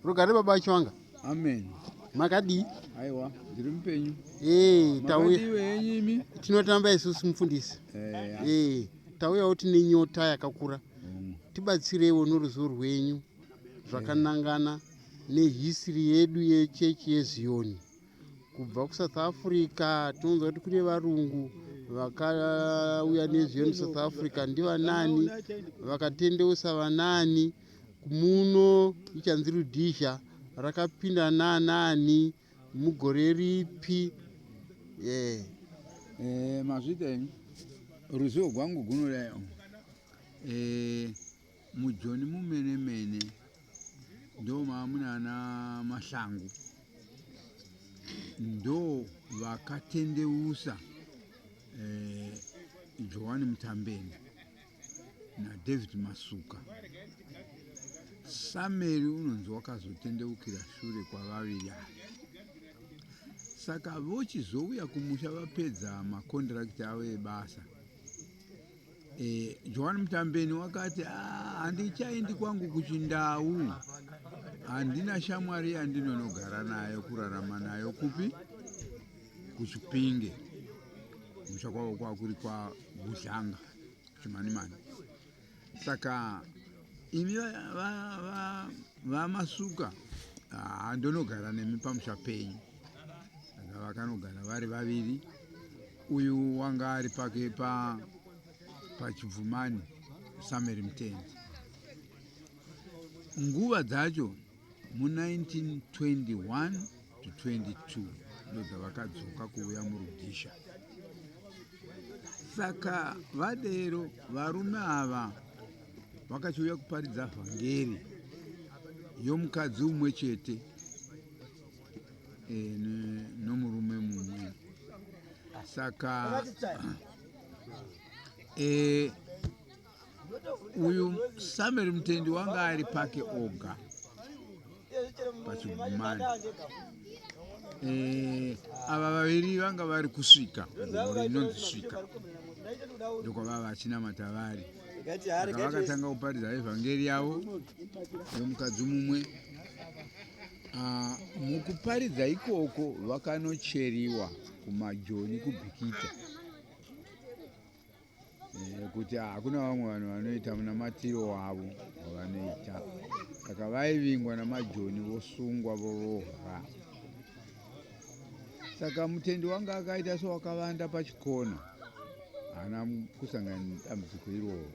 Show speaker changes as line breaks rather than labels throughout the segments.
Rugare baba Chiwanga. Amen.
Makadii?
Aiwa, ndiri
mupenyu. Eh, tauya.
Makadii henyu imi?
Tinotamba isusu
mufundisi. Eh, Eh, tauyawo tine nyota yakakura. mm, Tibatsireiwo noruzivo rwenyu zvakanangana nehisiri yedu yechechi yeZiyoni. kubva kusouth africa tinonzwa kuti kune varungu vakauya nezviyo musouth africa ndivanani vakatendeusa vanani muno ichanzi rudhizha rakapinda nanani mugore ripi yeah.
eh, mazvita ruzivo gwangu gunodayo eh, Mujoni mumene mene ndo mamunana Mahlangu ndo vakatendeusa eh, Joani Mutambeni na David Masuka. Sameri unonzi wakazotendeukira shure kwavaviri ava. Saka vochizouya kumusha vapedza makondirakiti avo ebasa E, Joan Mtambeni wakati ah, handichaendi kwangu kuchindau, handina shamwari yandinonogara nayo kurarama nayo kupi kuchipinge musha kwavo kwakuri kwabuhlanga chimanimani saka imi vamasuka ndonogara nemi pamusha penyu vakanogara vari vaviri Uyu wanga ari pake pa pachibvumani Samuel Mtendi. Nguva dzacho mu 1921 to 22 ndo dzavakadzoka kuuya murudhisha. Saka vadero varume ava vakachiuya kuparidza vhangeri yomukadzi umwe chete nomurume mumwe saka e, uyu samuel mutendi wanga ari pake oga pachigumani e, ava vaviri vanga vari kusvika gore inonzi svika ndokwavava vachinamata vari vakatanga kuparidza evhangeri yavo yomukadzi mumwe Ah, mukuparidza ikoko vakanocheriwa kumajoni kubhikita eh, kuti hakuna vamwe vanhu vanoita munamatiro wavo wavanoita saka vaivingwa namajoni vosungwa vorohwa saka mutendi wange akaita sewakavanda pachikona haana kusangana nedambudziko iroro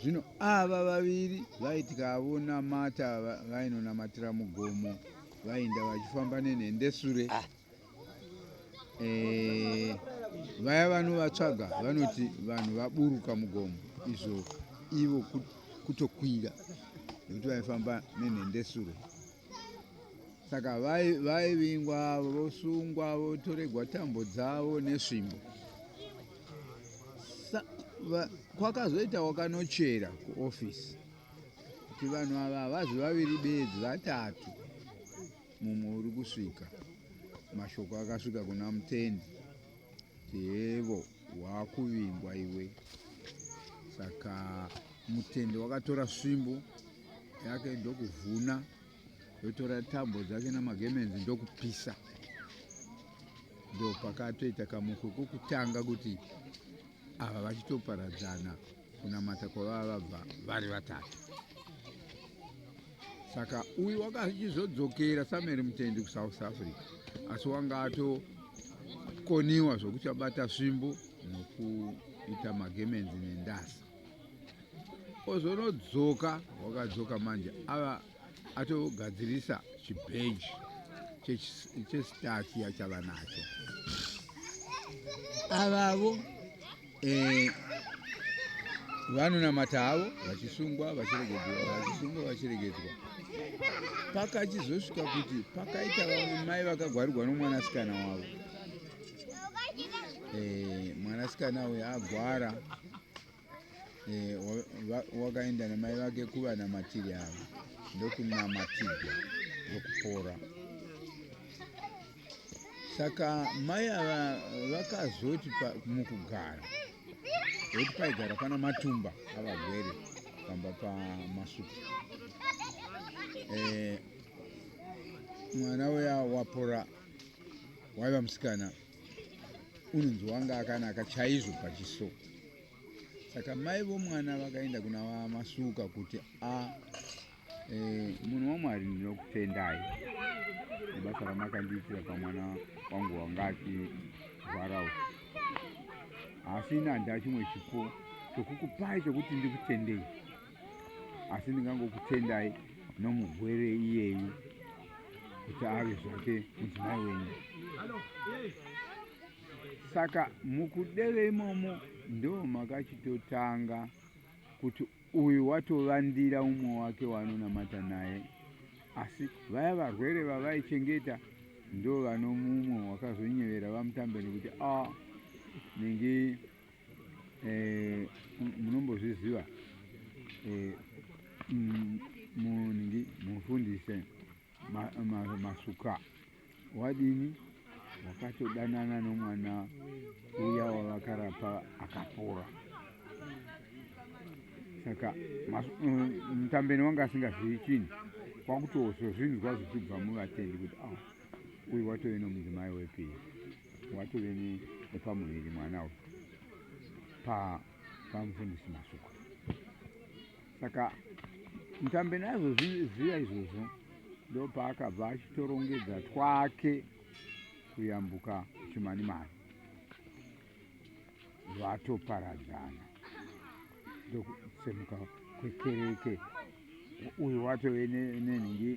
zvino ava vaviri vaitikaavo namata vainonamatira mugomo vainda vachifamba nenhende sure ah. eh, vaya vanovatsvaga vanoti vanhu vaburuka mugomo izvo ivo kutokwira nekuti vaifamba nenhende sure saka vaivingwa vosungwa votoregwa tambo dzavo nesvimbo kwakazoita wakanochera kuofisi kuti vanhu ava havazi vaviri bedzi vatatu mumwe uri kusvika mashoko akasvika kuna mutendi kuti hevo waakuvingwa iwe saka mutendi wakatora svimbo yake ndokuvhuna ndotora tambo dzake namagemenzi ndokupisa ndopakatoita kamuko kokutanga kuti ava vachitoparadzana kunamata kwavava vabva vari vatatu saka uyu wanga achizodzokera samuel mutendi kusouth africa asi wanga atokoniwa zvokuti abata svimbo nokuita magemenzi nendasa ozonodzoka wakadzoka manje ava atogadzirisa chibheji chesitaki yachava nacho avavo eh, vanonamata havo vachisungwa vachiregedzwa vachisungwa vachiregedzwa pakachizosvika kuti pakaita vamwe mai vakagwarirwa nomwanasikana wavo eh, mwanasikana uyo agwara e, eh, wakaenda wa, wa namai vake kuvanamatiri avo ndokunamatirwa ndokupora saka mai ava vakazoti mukugara voti paigara pana matumba avagwere pamba pamasuku eh, mwana uya wapora waiva musikana unonzi wanga akanaka chaizvo pachiso saka mai vomwana vakaenda kuna vamasuka kuti a e, munhu wamwari ndinokutendai nebasa ramakandiitira pamwana wangu wanga achirwarawo asi ini handina chimwe chipo chokukupai chokuti ndikutendei asi ndingangokutendai nomugwere iyeyu kuti ave zvake mudzimai wenyu saka mukudeve imomo ndo makachitotanga kuti uyu watovandira umwe wake waanonamata naye asi vaya varwere vavaichengeta ndo vanomumwe wakazonyevera vamutambe nekuti a ah, ningi Eh, munombozviziva eh, mm, munhingi mufundise masuka wadini wakatodanana nomwana uya wavakarapa akapora saka eh, mutambeni wanga asingazivi chinhu kwakutozozvinzwa zvichibva muvatendi kuti a ah, uyu watove nomudzimai wepiri watove nepamuviri mwana uyu pamufundisi masuku saka mutambe nazvo zviya izvozvo ndopaakabva achitorongedza twake kuyambuka chimanimani vatoparadzana ndokusemuka kwekereke uyu watove nenhingi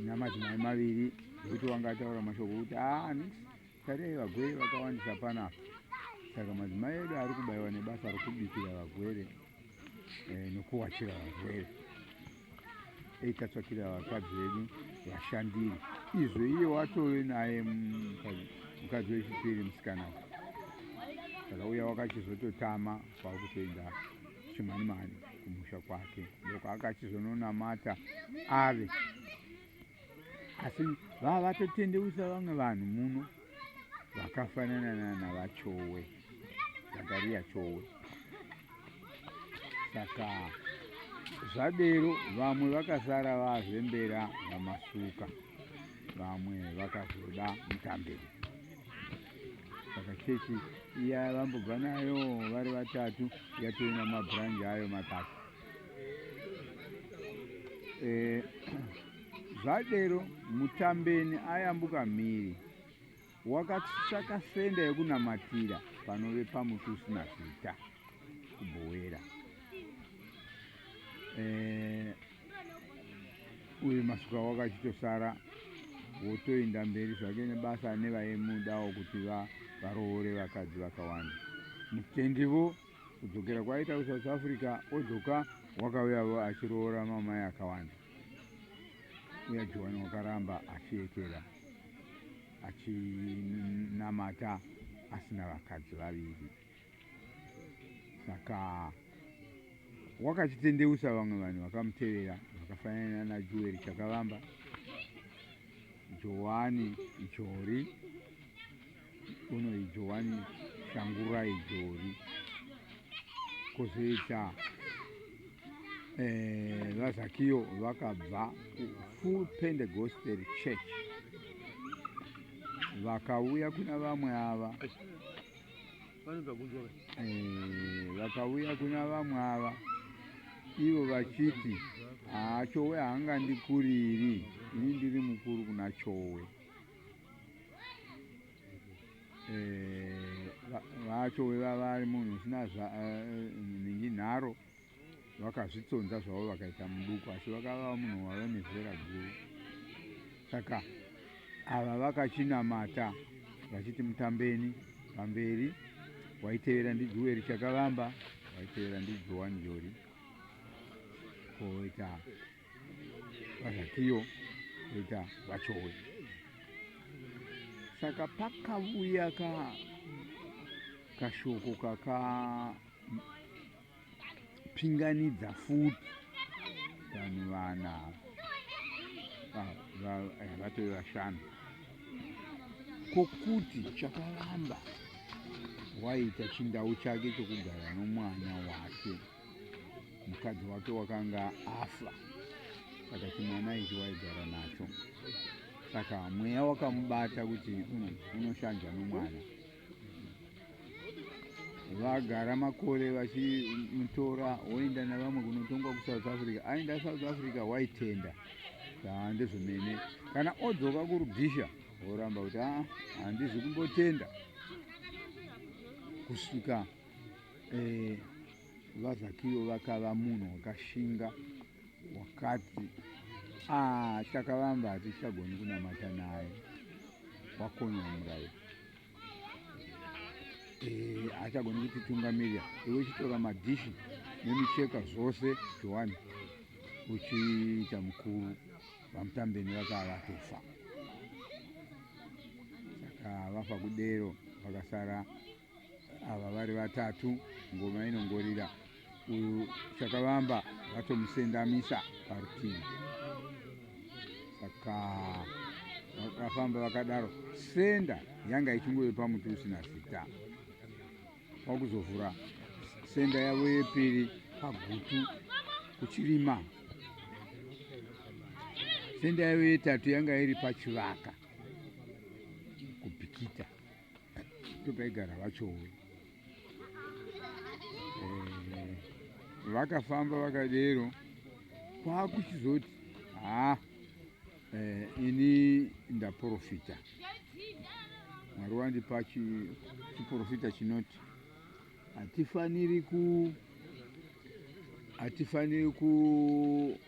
namadzimai maviri ekuti wanga ataura mashoko okuti aa ah, tarii vagwere vakawandisa panapa saka madzimai edu ari kubayiwa nebasa rokubikira vagwere eh, nokuwachira varwere dei tatsvakira vakadzi vedu vashandiri izvo iye watove naye mukadzi wechipiri musikana akauya wakachizototama kwakutoenda chimanimani kumusha kwake ndoko akachizononamata ave asi vava vatotendeusa vamwe vanhu muno vakafanana nana vachowe zakariya chowe saka zvadero vamwe vakasara vazembera vamasuka vamwe vakazoda mutambiro saka chechi iya vambobva nayo vari vatatu yatoina mabhuranji ayo matatu Eh, zvadero mutambeni ayambuka mhiri wakatsvaka senda yekunamatira panove pamuti usina zita kubhowera eh, uyu masuka wakachitosara wotoinda mberi zvake nebasa nevaimudawo kuti varoore vakadzi vakawanda mutendivo kudzokera kwaaita kusouth africa odzoka wakauyavo achiroora mamai akawanda uya johani wakaramba achiyekera achinamata asina vakadzi vaviri saka wakachitendeusa vamwe vanhu vakamutevera vakafanana najuweri chakavamba johani jori Kono ijo wani shangura ijori kozoita eh, vazakiyo vakabva full pentecostal church vakauya kuna vamwe ava eh, vakauya kuna vamwe ava ivo vachiti haa chowe haangandikuriri ini ndiri mukuru kuna chowe eh, vacho veva vari munhu usina eh, ningi nharo vakazvitsonza zvavo vakaita muduku asi vakava munhu wave nezera guru saka ava vakachinamata vachiti mutambeni pamberi waitevera ndijuweri chakavamba waitevera ndijoani jori koita vazvakiyo ita vachowe saka pakavuya ka kashoko kakapinganidza futi vanhu vana vatove vashanu kokuti chakaramba waita chindau chake chokugara nomwana wake mukadzi wake wakanga afa saka chimwana ichi waigara nacho saka mweya wakamubata kuti hmm, unoshanja nomwana vagara makore vachimutora woenda navamwe kunotongwa kusouth africa aenda south africa waitenda aa ndezvomene kana odzoka kurudisha woramba kuti aa ah, handizi kumbotenda kusvika Eh, vazakiyo vakava munhu wakashinga wakati ah, takavamba hatichagoni kunamata naye wakonywa murairo eh, haachagoni eh, kutitungamirira iwe chitora madhishi nemicheka zvose johani uchiita mukuru vamutambeni vakava vatofa saka vafa kudero vakasara ava vari vatatu ngoma inongorira uyu chakavamba vatomusendamisa parutivi saka vakafamba vakadaro senda yanga ichingove pamuti usina zita kwakuzovhura senda yavo yepiri pagutu kuchirima senda yavo yetatu yanga iri pachivaka kupikita totaigara vachowo eh, vakafamba vakadero kwakuchizoti ha eh, ini ndaprofita mwari wandipa chiprofita chinoti hatifaniri ku hatifaniri ku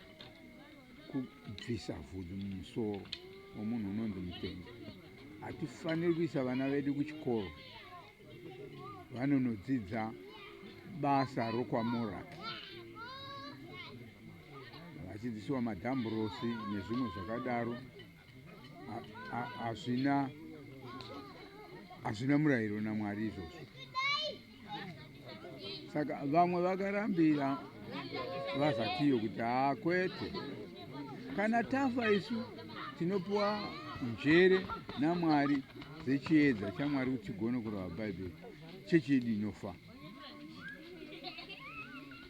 kubvisa vhudzi mumusoro wemunhu unonzi mupenzi hatifaniri kuisa vana vedu kuchikoro vanonodzidza basa rokwamoraki vachidzidzisiwa madhamburosi nezvimwe zvakadaro hazvina hazvina murayiro namwari izvozvo saka vamwe vakarambira vazakiyo kuti haa kwete kana tafa isu tinopiwa njere namwari dzechiedza chamwari kuti tigone kurava bhaibheri chechi yedu inofa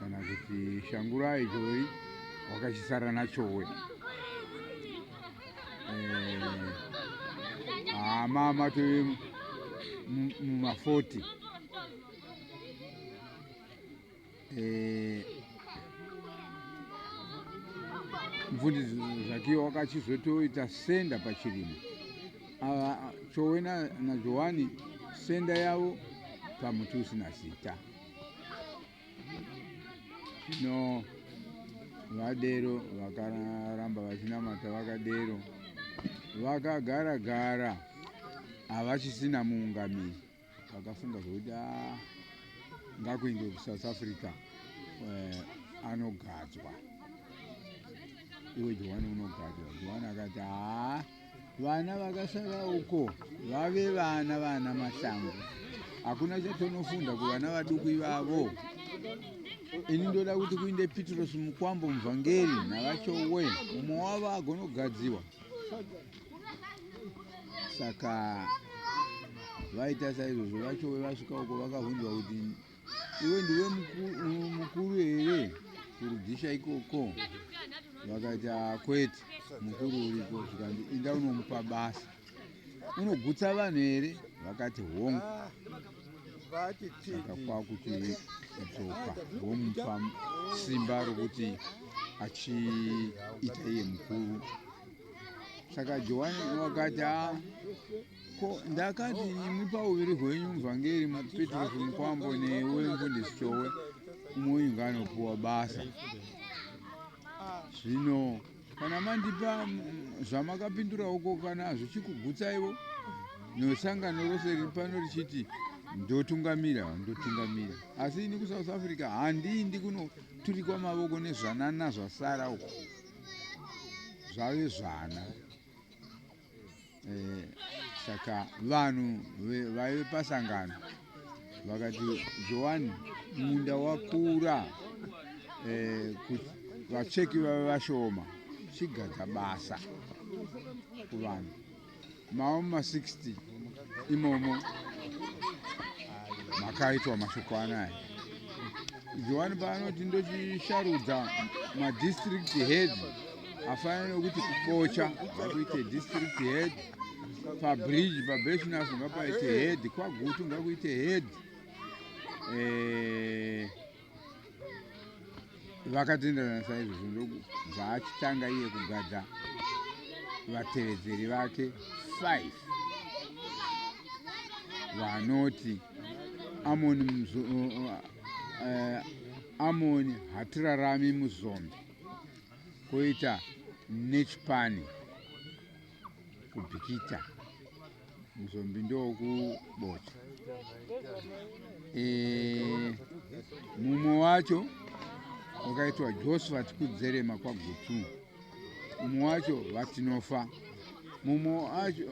kana kuti shangurai choi wakachisara nachowe hama eh, matove mumafoti eh, mfundisi zvakiwa wakachizotoita senda pachirimo chowe najohani senda yavo pamuti usina zita zvino vadero vakaramba vachinamata vakadero vakagara gara havachisina muungamiri vakafunga zvekuti ah, ngakuende kusouth africa eh, anogadzwa iwe johani unogadzwa johani akati haa Vana vakasara uko vave vana vana mashango. Hakuna chatonofunda kuvana vaduku ivavo. Ini ndoda kuti kuinde Petros Mukwambo muvhangeri navachowe mumwe wavo agonogadziwa. Saka vaita saizvozvo vachowe vasvika uko vakavhunzwa kuti iwe ndiwe mukuru here kurudhisha ikoko vakati akwete ah, mukuru uriko zvikanzi inda unomupa basa unogutsa vanhu here vakati hongu saka kwakuti kudzoka vomupa simba rokuti achiita iye mukuru saka johani wakati a ah, Ko ndakati imi pauviri hwenyu muvhangeri Petros Mukwambo newe mfundisi Chowe umwe inga anopuwa basa. Zvino kana mandipa mm, zvamakapindura uko kana hazvichikugutsaiwo nesangano rose riri pano richiti ndotungamira ndotungamira asi ini kusouth africa handiindi kunoturikwa mavoko nezvanana zvasara uko zvave zvana eh, saka vanhu vaive pasangano vakati johani munda wakura eh, vacheki vave vashoma chigadza basa kuvanhu mavo ma 60 imomo makaitwa mashoko anaya johani paanoti ndochisharudza madistrict head afanana nokuti kubocha ngakuite district head pabridge pabeshinas ngapaite head kwagutu ngakuite head eh, vakatenderana saizvozvo ndokubva achitanga iye kugadza vatevedzeri vake 5 vanoti amoni uh, uh, amoni hatirarami muzombe koita nechipani kubhikita muzombi ndokubocha e, eh, mumwe wacho wakaitwa josephat kudzerema kwagutu mumwe wacho vatinofa mumwe wacho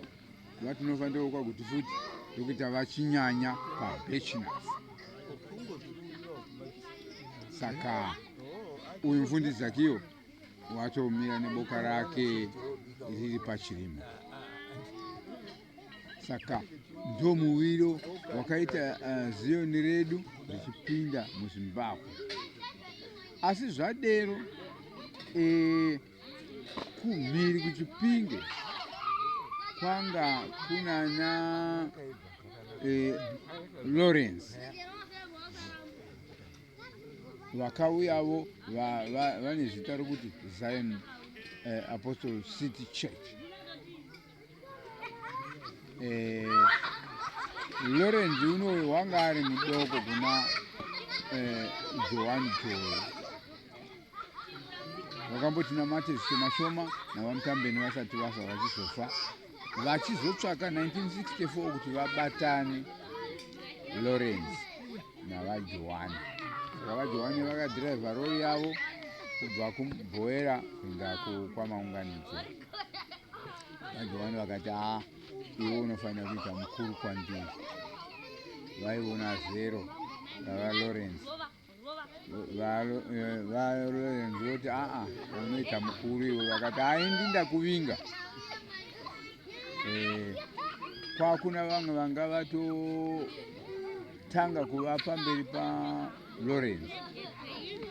vatinofanira kwa kuti futi ndokuita vachinyanya pabachelors saka uyu mufundisi zakiyo watomira neboka rake riri pachirimo saka ndo muviro wakaita uh, eh, ziyoni redu richipinda muzimbabwe asi zvadero eh, kumhiri kuchipinge kwanga kunana eh, lawrence vakauyavo va- va- vane zita rokuti zion eh, apostle city church eh, Lawrence unoyu wanga ari mudoko kuna eh, Joan Joy vakamboti namate zvishoma shoma navamutambeni vasati vafa vachizofa vachizotsvaka 1964 kuti vabatane Lawrence navaJohani saka vaJohani vakadhiraivha rori yavo kubva kubhoera kuenda kwamaunganidzo vajohani vakati haa iwe unofanira kuita mukuru kwandiri vaiona zero vavalorence valorence eh, voti aa unoita mukuru iwe vakati haindi ndakuvinga eh, kwakuna vamwe vanga vatotanga kuva pamberi palorence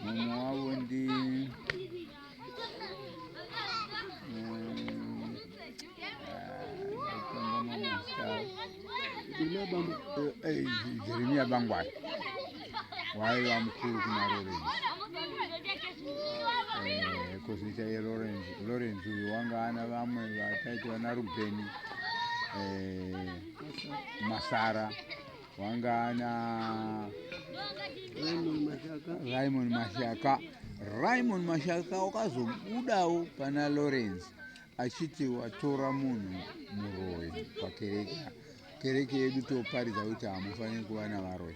mumwe wavo ndi Jeremia Bangwai waiva mukuru kuna Lawrence eh, kozoita ye Lawrence Lawrence uyu wanga ana vamwe vataiti vana Rubeni eh, Masara wangana raimon mashaka raimon mashaka wakazobudawo pana lawrence achiti watora munhu muroyi pakereke kereke yedu toparidza kuti hamufaniri kuva navaroi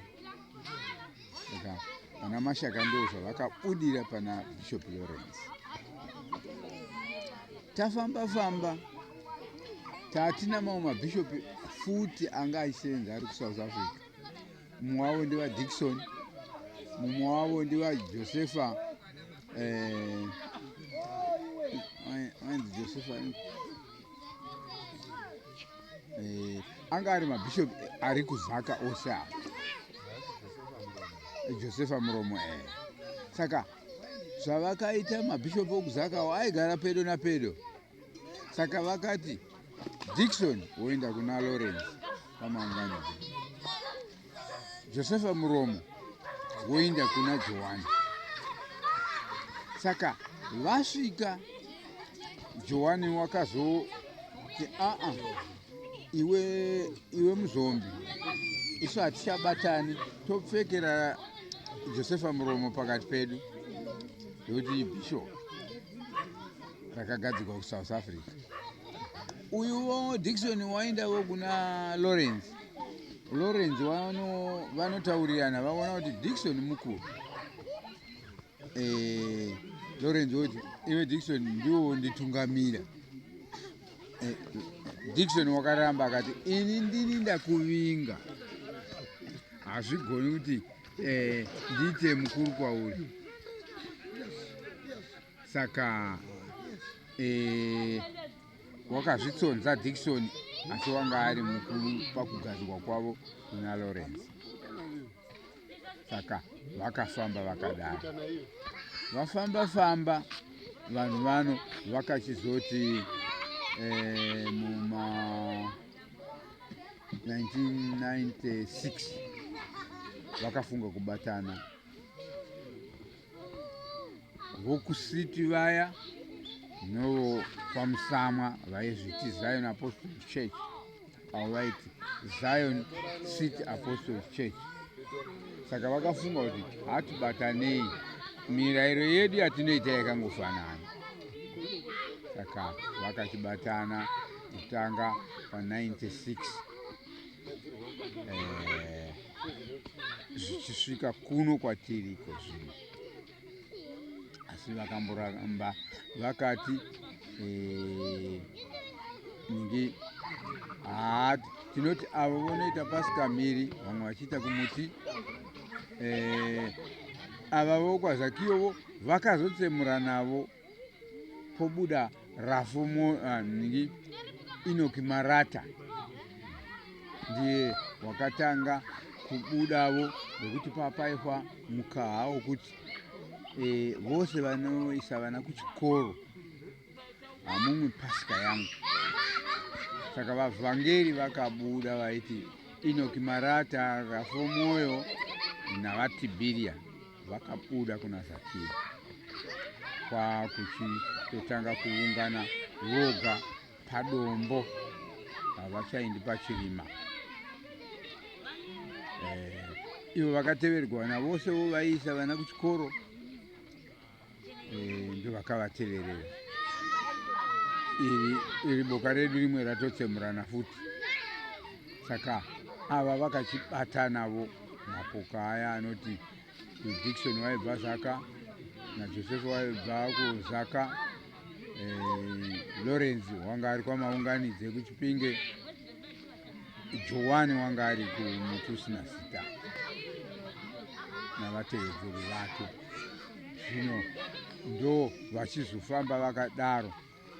saka pana mashaka ndo zvavakabudira pana bishop lawrence tafamba famba tatina mamwe mabishop futi anga achisenza ari kusouth africa mumwe wavo ndevadikson mumwe wavo ndevajosepha eh, wanzi josepha eh, anga ari mabishop ari kuzaka ose a josefa muromo e saka zvavakaita mabishop okuzakawo aigara pedo napedo saka vakati dikson woenda kuna lawrence pamangwana Josefa muromo woinda kuna Johani. Saka vasvika Johani wakazoti aa iwe iwe muzombi isu hatichabatani topfekera Josefa muromo pakati pedu ndokuti bishop rakagadzirwa kuSouth Africa uyuwo Dixon waindavo kuna Lawrence Lawrence vanotaurirana vaona kuti Dixon mukuru eh, Lawrence oti iwe Dixon ndiwo nditungamira eh, Dixon wakaramba akati ini ndini ndakuvinga hazvigoni kuti eh, ndiite mukuru kwauri saka eh, wakazvitsonza dikisoni asi wanga ari mukuru pakugadzirwa kwavo kuna lawrence saka vakafamba vakadaro vafamba famba vanhu vano vakachizoti eh, muma 1996 vakafunga kubatana vokusiti vaya novokwamusamwa vaizviti zion apostles church avo vaiti zion city apostles church saka vakafunga kuti hatibatanei mirayiro yedu yatinoita yakangofanana saka vakachibatana kutanga pa 96 eh, zvichisvika kuno kwatiri iko zvino asi vakamboramba vakati eh, ngi haa tinoti avo vonoita pasikamiri vamwe vachiita kumuti eh, ava vokwazakiyovo vakazotsemura navo pobuda rafu ah, nhingi inoki marata ndiye wakatanga kubudavo nekuti papaihwa mukaha wokuti e, vose vanoisa vana kuchikoro hamumwe pasika yangu saka vavhangeri vakabuda vaiti inoki marata rafu mwoyo navatibiriya Vakabuda kuna Zakiri kwakuchitotanga kuungana voga padombo, havachaindi pachirima. Eh, ivo vakateverwa navosewo vaiisa vana kuchikoro eh, ndovakavateverera iri iri boka redu rimwe ratotsemurana futi saka ava vakachibatanavo mapoka aya anoti dikson waibva zaka najosefu waibva kuzaka eh, lawrence wanga ari kwamaunganidze kuchipinge Johwani wanga ari kumuti usina zita navatevedzeri vake. Zvino ndo vachizofamba vakadaro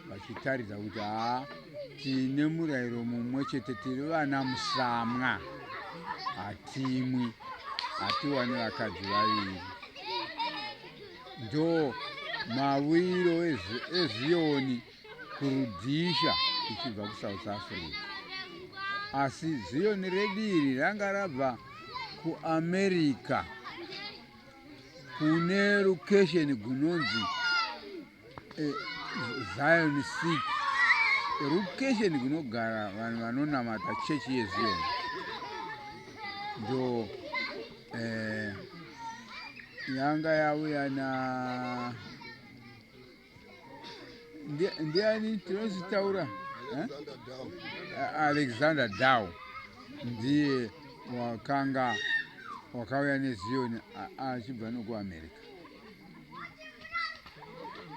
vachitaridza kuti haa tine murayiro mumwe chete, tiri vana musamwa, hatimwi, hatiwani vakadzi vaviri. Ndo mawiro eziyoni kuRhodesia tichibva kuSouth Africa. Asi Ziyoni redu iri ranga rabva kuAmerica kune location gunonzi eh, Zion City. Location kunogara vanhu vanonamata chechi yeZion. Ndo eh, yanga yauya na ndiani tinozvitaura alexander dow ndiye wakanga wakauya neziyoni achibva nokuamerica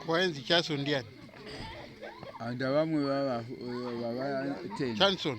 kwaenzi chaso ndiani
anda vamwe vava 10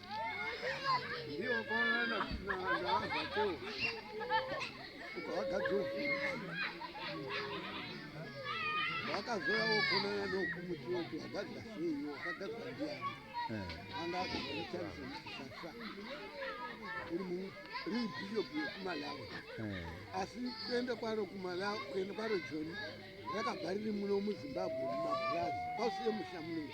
vakazoya wokonana
nokumuti woti wagadzira sei wakagadzira ndiyani eh. anga akazoshandisa musasa uri muribhishopu yekumalawi eh. asi kuenda kwaro kumalawi kuenda kwaro joni rakabva riri muno muzimbabwe mumaburazi kwausiye musha muno